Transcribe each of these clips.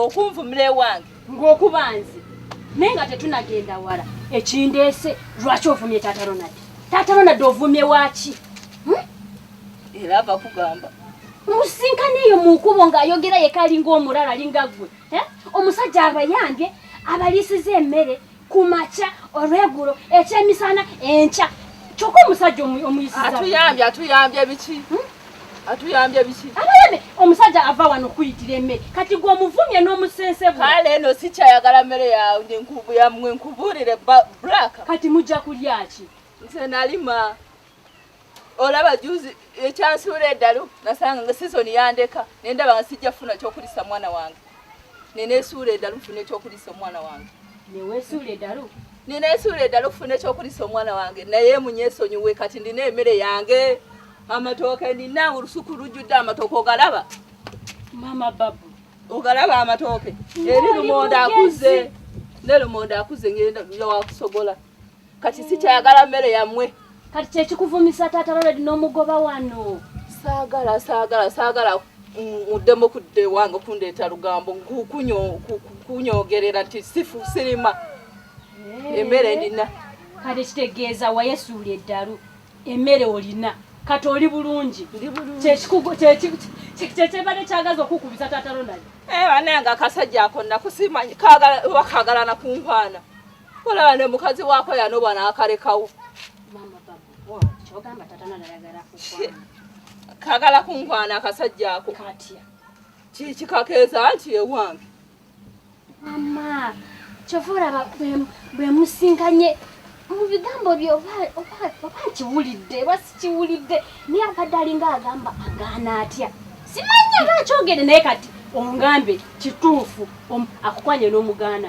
okunvumula ewange ng'okuba nze naye nga tetunagenda wala ekindeese lwaki ovumye taata ronald taata ronald ovumye waaki hmm? era ava kugamba musisinkana eyo mu nkubo ng'ayogera yeka alinga omulala alinga ggwe eh? omusajja abayambye abaliisiza emmere ku makya olwegulo ekyemisana enkya kyokka omusajja omuyisiatuyambye atuyambye biki hmm? atuyambye biki abayambe omusajja ava wano okuyitira emmere kati gwe omuvumye n'omusense kale eno sikyayagala mmere yamwe nkubuulire black kati mujja kulyaki nze nalima olaba juzi ekyansuula eddalu nasanga nga sizoni yandeka naye ndaba nga sijja kufuna kyokulisa mwana wange nenesuula eddalu nfuna ekyokulisa omwana wange newesuula eddalu nenesuula eddalu okufuna ekyokulisa omwana wange naye munyesonyiwe kati ndina emere yange amatooke ndina olusuku lujjudde amatooke ogalaba mama babu ogalaba amatooke eri lumonda akuze ne lumonda akuze ngenda wakusogola kati sikyayagala mmere yammwe kati kyekikuvumisa taata loledi n'omugoba wano saagala saagala saagala muddemu kudda ewange okundeeta lugambo kunyogerera nti sifu sirima eh. emmere ndina kati kitegeeza wayesuula eddalu emmere olina kati oli bulungi kyekyebadde kyagaza okukubiza taata ronald eh, banange akasajja ako nakusimanyi kagala nakunkwana olaba ne mukazi waako yanoba n'akalekawo kagala kunkwana akasajja ako kikikakeeza nti ewange mama kyova olaba bwe musinkanye mu bigambo bye oba nkiwulidde oba sikiwulidde naye abadde alinga agamba agaana atya simanyi aba akyogere naye kati ongambe kituufu akukwanye n'omugaana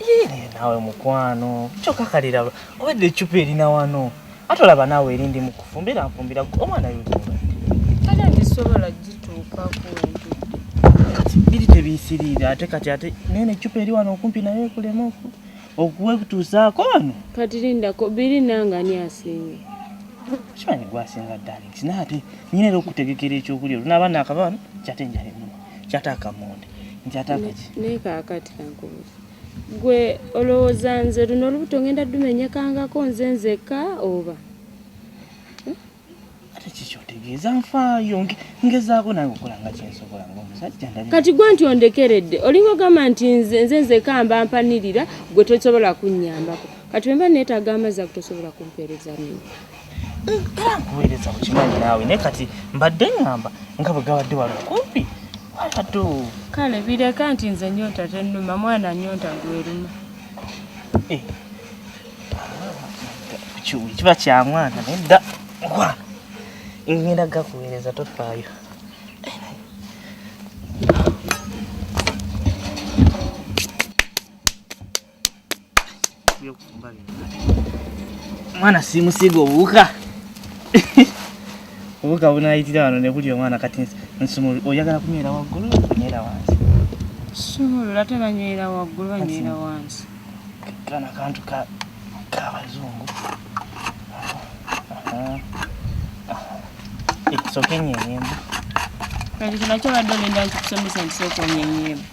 Yee, nawe mukwano kyoka kalira obadde ecupa erina wano ate olaba naawe erindi mu kufumbira nfumbira gwe omwana yozuba kale ndisobola gituukako nti kati biri tebiyisiriire ate kati ate naye necupa eri wano okumpi naye ekulema oku- okuwekutuusaako wano kati lindako biri nange ani asinga kimanyi gwasinga darlings naye ate nyina era okutegekera ekyokulya olunaba nakaba wano kyate njala ennuma kyataaka munda nkyataaka ki naye kaakati kankubuza gwe olowooza nze luno olubuto ngenda dumenyekangako nze nzekka oba eh? ate kiki otegeeza nfaayo ngezaako naye okukola nga kyensobola ngaomusajja kati gwe nti ondekeredde olinga ogamba nti nze nze nzekka mba mpanirira gwe tosobola kunnyambako kati wemba neetaaga amazzi akutosobola kumpeereza nini era nkuweereza bukimanyi naawe naye kati mbadde ngamba nga bwe gabadde wali okumpi walatu kale bireka nti nze nyonta tennuma mwana nyonta gweruma eh. kiba kya mwana naye dda mukwana ngenda gakuweereza tofaayo mwana simusiga obuwuka obuwuka bunayitira wano nebuli omwana kati nsumulu oyagala kunywera waggulu kunywera wansi sumulula ate banywera waggulu banywera wansi kana kantu kabazungu soka enyenyemba kati kinakyo badde olinda nkikusomesa nti soka onyenyemba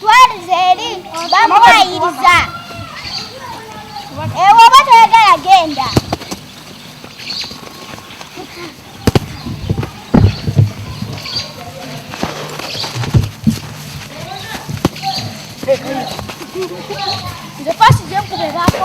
twalize eri bamuwayiriza ewo oba toyagala genda nze fasi zenkubebaako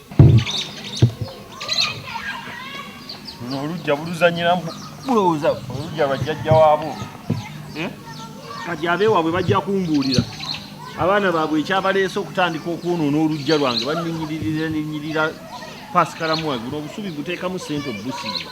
olujja buluzanyiramu bulowooza olujja lwajjajja waabo eh? kati abeewaabwe bajja kumbuulira abaana baabwe ekyabaleese okutandika okwonoona olujja lwange banninyiririra ninyirira pasikalamu wange buno obusubi buteekamu sente obubusiiba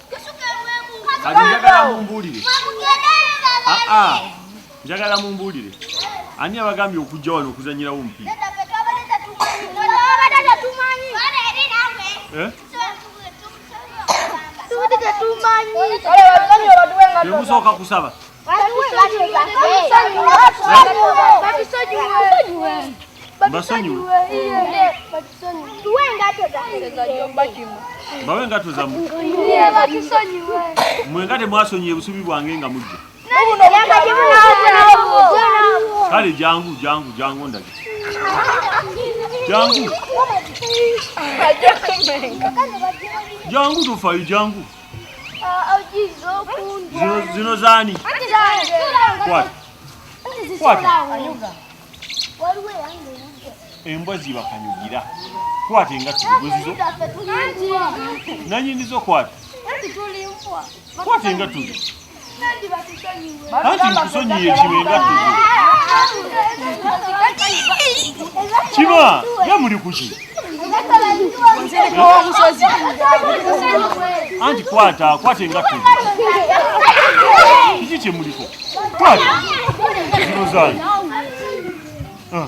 kati njagala mumbuulire aa ah, ah. njagala mumbuulire ani abagambye okujja wano okuzanyirawo omupiira eh? temusooka kusaba basonyiwe bawe engato zamwe mwe nga temwasonyiye busubi bwange nga mujja kale jangu jangu jangu ndage jangu jangu tufayo jangu zino zani embwa zibakanyugira kwata engatto zibuzizo nanyinizo kwata kwata engatto anti nkusonyiye kino engatto kima ye muli kuki anti kwata kwata engatto kiki kyemuliko kwata zino zange ah.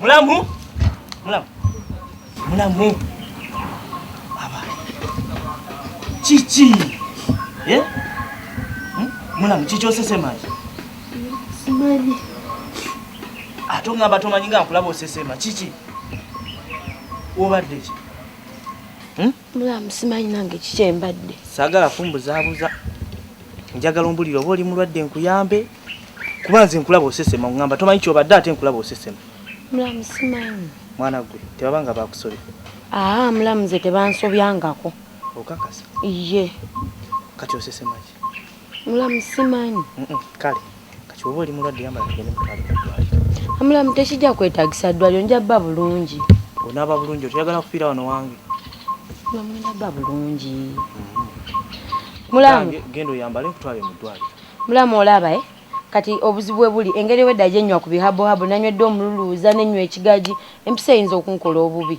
Mulamu. Mulamu. Mulamu. Aba. Chichi. Eh? Hmm? Mulamu chichi osese maji. Simaji. Ato ngamba to manyinga nkulaba osese maji. Chichi. Obadde ki? Hmm? Mulamu simanyi nange kikyembadde. Sagala fumbuzabuza. Njagala ombulira oba oli mulwadde nkuyambe. kuba nze nkulaba osesema ongamba tomanyi kyobadde ate nkulaba osesema mulamu simanyi mwana gwe tebaba nga bakusobya aa mulamu nze tebansobyangako okakasa iye kati osesemaki mulamu simanyi kale kati oba oli mulwadde yambala tugende mutwale mudwaliro amulamu tekijja kwetagisa ddwaliro nja bba bulungi onaaba bulungi otoyagala kufiira wano wange namwenda bba bulungi mm-hmm. mulamu genda oyambale nkutwale mu ddwaliro Mulamu olaba eh? Kati obuzibu webuli engeri obwedda gyenywa ku bihabuhabu nanywedde omululuuza nenywa ekigagi empiso eyinza okunkola obubi.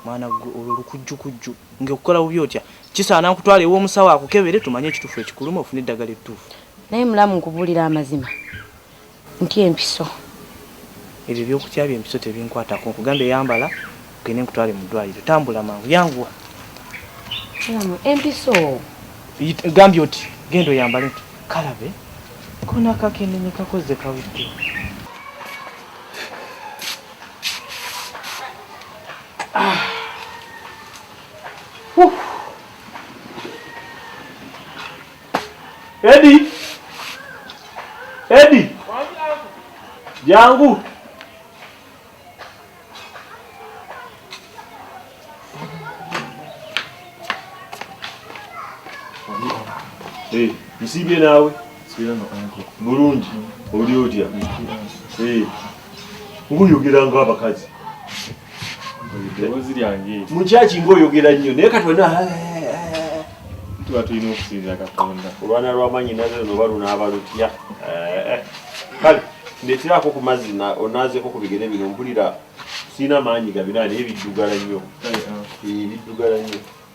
Mwana ggwe olwo lukujjukujju ng'ekukola bubi otya? Kisaana nkutwale ew'omusawo akukebere tumanye ekituufu ekikuluma ofune eddagala ettuufu. Naye mulamu nkubuulire amazima. Ntya empiso. Ebyo eby'okutya by'empiso tebinkwatako. Nkugambye yambala ogende nkutwale mu ddwaaliro. Tambula mangu, yanguwa. Mulamu, empiso. Yita- Gambye oti genda oyambale nti kalabe kona akakendenye kakozze kawedde. Edi. Edi. Jangu. Hey, msibye nawe. Sibye na onko. Mulungi. Oli otya? Hey. nguyogera nga abakazi mukyaki ngaoyogera nnyo naye kati wena eh, eh, eh. tuba tulina okusinza katonda olwana lwamanyi naze noba lunaaba lutya kale ndeteraako ku mazzi onaazeko ku bigere bino mpulira sirina maanyi gabina naye biddugala nnyo ah. biddugala nnyo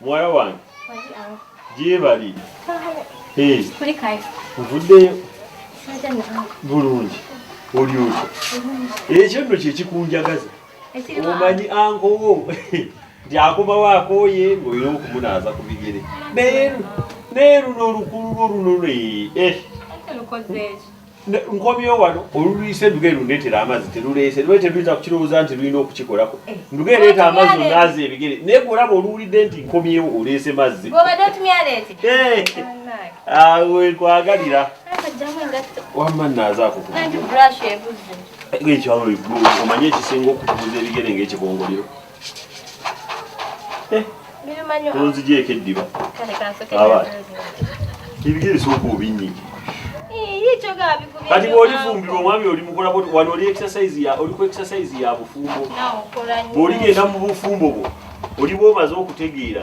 Muwala wange gyebali nvuddeyo bulungi oli otyo ekyo nno kyekikunjagaza omanyi ankowo nti akomawo akooye ng'olina okumunaaza ku bigere naye neeruno olukululwo luno lwe eh. nkomyewo wano olulwise nduga erundeetera amazzi teruleese lwe teruyinza kukirowooza nti lulina okukikolako eh, nduga ereeta amazzi onaaza ebigere naye gwe olaba oluwulidde nti nkomyewo oleese mazzi eh, awe nkwagalira wamma naazaako ekyo awo omanye ekisinga okukubuza ebigere ng'ekibongoliro Eh, onzigyeko eddiba abaana ebigere bisooka obinyige kati bwolifumbirwa omwami olimukolako wano oli exercise ya oli ku exercise ya bufumbo bwoligenda mu bufumbo bwo oli bwomaze okutegeera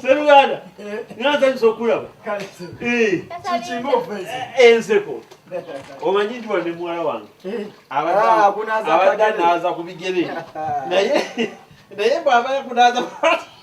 seruganda nasanyusa okulaba enseko omanyi nti wane muwala wange abadde naaza ku bigere naye naye bwaba yakunaaza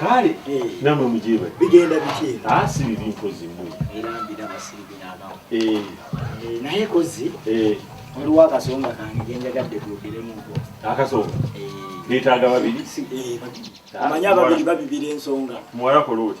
kale namwe mujebale bigenda bitye asi bibi mpozi mwe era mbira basiri binabawo eh naye kozi eh waliwo akasonga kange genjagadde kuyogeremu nko akasonga betaaga babiri eh, eh, ah, amanya babiri babibira ensonga muwala koloti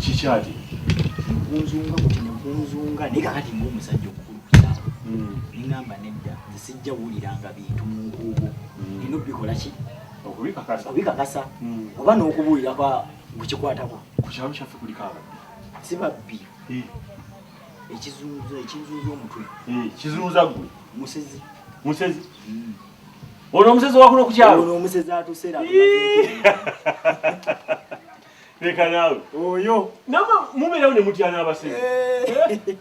kikyati nkunzunga kuti nkunzunga naye kakati nga omusajja omukulu kukyalo hmm. nengamba nedda nze sijja wuliranga bintu mu nkuubo hmm. nina obikola ki okubikakasa hmm. oba n'okubuulira kwa gukikwatako ku kyalo kyaffe kuliko ababbi si babbi ekizunza ekizunza omutwe kizunza gwe musezi musezi ono omusezi wakuno kukyalo ono omusezi atusera leka nawe oyo nama muberawo ne mutya n'abasezi eh.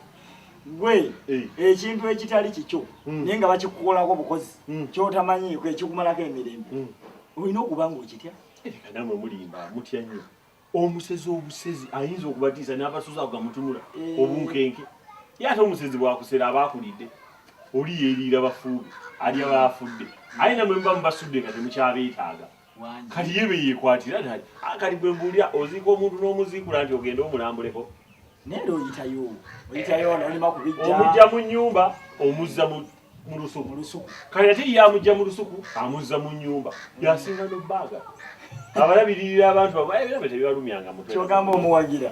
gwe eh. ekintu ekitali kikyo hmm. naye nga bakikukolako bukozi hmm. kyotamanyiiko ekikumalako emirembe hmm. olina okuba nga okitya eh, leka namwe mulimba mutya nnyo omusezi obusezi ayinza okubatiisa n'abasuza ago gamutunula obunkenke ye ate omusezi bwakusera aba akulidde oli yeeriira bafuubi alya baafudde aye namwe muba mubasudde nga temukyabeetaaga kati ye beyekwatira nti ah, kati gwe mbulira oziika omuntu n'omuziikula nti ogende omulambuleko omujja mu nyumba omuzza mu lusuku kati ate ye amujja mu lusuku amuzza mu nyumba yasinga nobbaaga abalabirira abantu babaebirabe tebibalumyanga mutwe kyogamba omuwagira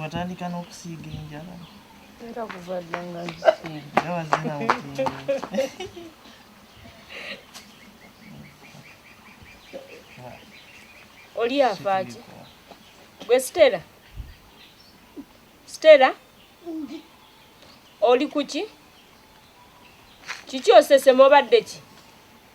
watandika n'okusiiga enjala era kuva dda nga oli afaaki gwe sitera sitera oli kuki kiki osesema obadde ki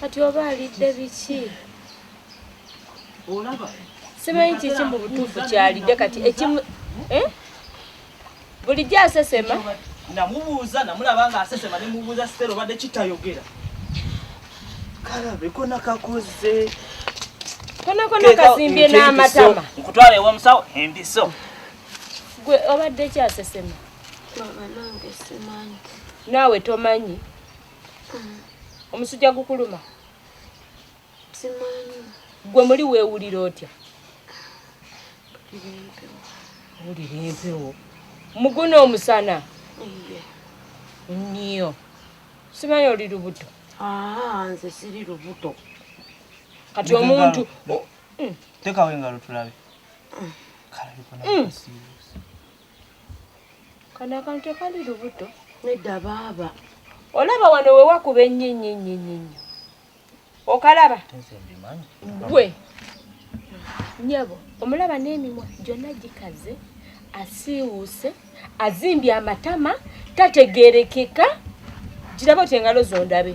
kati oba alidde biki olaba simanyi kiki mu butuufu kyalidde kati ekimu eh? bulijjo asesema namubuuza namulaba nga asesema nemubuuza sitera obadde kitayogera kalabeko nakakoze konakona kazimbye n'amatama nkutwala ewa musawo embiso gwe obadde kyasesema naawe tomanyi omusujja gukuluma gwe muli weewulira otya wulira empewo muguna omusana nniyo simanyi oli lubuto ah, nze siri lubuto kati omuntu hmm. tekawo engalo tulabe hmm. kano akantu tekali lubuto nedda baaba olaba wano wewakuba ennyo ennyo ennyo ennyo ennyo okalaba gwe nyabo omulaba n'emimwa gyonna gikaze asiiwuuse azimbye amatama tategerekeka giraba oti engalo zondabe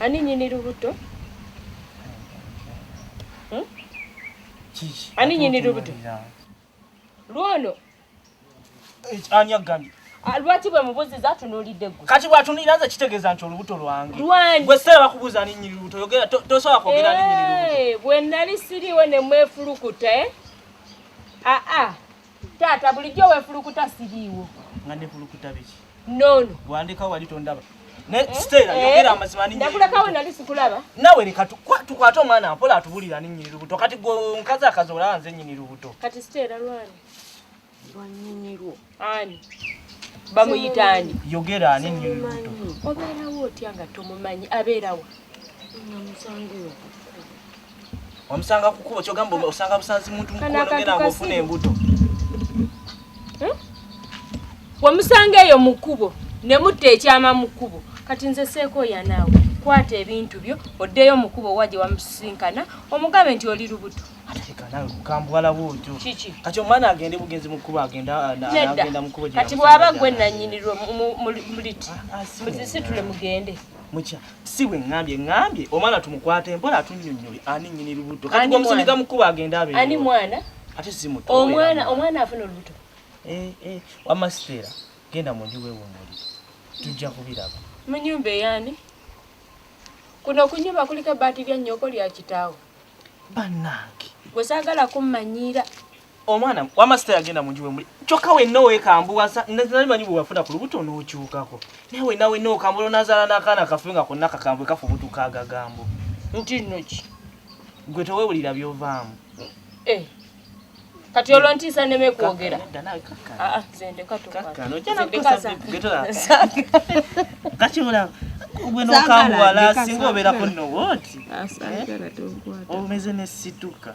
Ani nyini lubuto? Hmm? Ani nyini lubuto? Lwono. Eh, Anya gani? Ah, lwaki bwe mubuziza atunulidde gwe kati bwatunulira nze kitegeeza nti olubuto lwange gwe seera bakubuuza ninyini lubuto yogera tosobola kwogera ninyini lubuto eh, bwe nali siriwo ne mwefulukuta e eh? aa ah, ah. Taata bulijjo wefulukuta siriiwo. Nga nefulukuta biki? Nono. Bwandeka wali tondaba. Ne eh? Stella eh? yogera amazima ninyi. Nakula kawo nali sikulaba. Nawe leka tukwata omwana apola atubulira ninyi lubuto. Kati gwe nkaza akazola nze nyinyi lubuto. Kati Stella lwani. Lwanyinyi lwo. Ani. Bamuyita ani? Yogera ani nyinyi lubuto. Obeera wo otya nga tomumanyi abeera wa? Namusangiwo. Wamusanga kukubo kyogamba osanga busanzi muntu mukulu ogenda ngofuna embuto. Hmm? Wamusanga eyo mukubo ne mutta ekyama mukubo. Kati nze seeko ya naawe. Kwata ebintu byo oddeyo mukubo waje wamusinkana omugabe nti oli lubuto. Kati bwaba gwe nanyinirwa muliti ah, ah, muzisitule mugende. si bwe ŋŋambye ŋŋambye omwana tumukwate mpola atunnyonnyole ani nnyini lubuto kati gwe omusindika mu kkubo agenda abe ani mwana ate si muto omwana omwana afuna olubuto eh, eh, wamma siteera genda mu nju weewummulire tujja kubiraba mu nyumba eyani kuno okunyumba kuliko ebbaati lya nnyoko lya kitaawo bannange gwe saagala kummanyiira omwana wama sita yagenda munju wemuli kyokka wenna owekambuwasa nali manyi bwewafuna ku lubuto n'okyukako naye wenna wenna okambula onazaala n'akaana kafe nga konna kakambwe kafubutuka agagambo nti nno ki gwe tewewulira byovaamu eh, kati olwo ntiisa neme kwogera ah, ah, kakimulaba gwe nokambuwala singa obeerako nowoti eh? omeze nesituka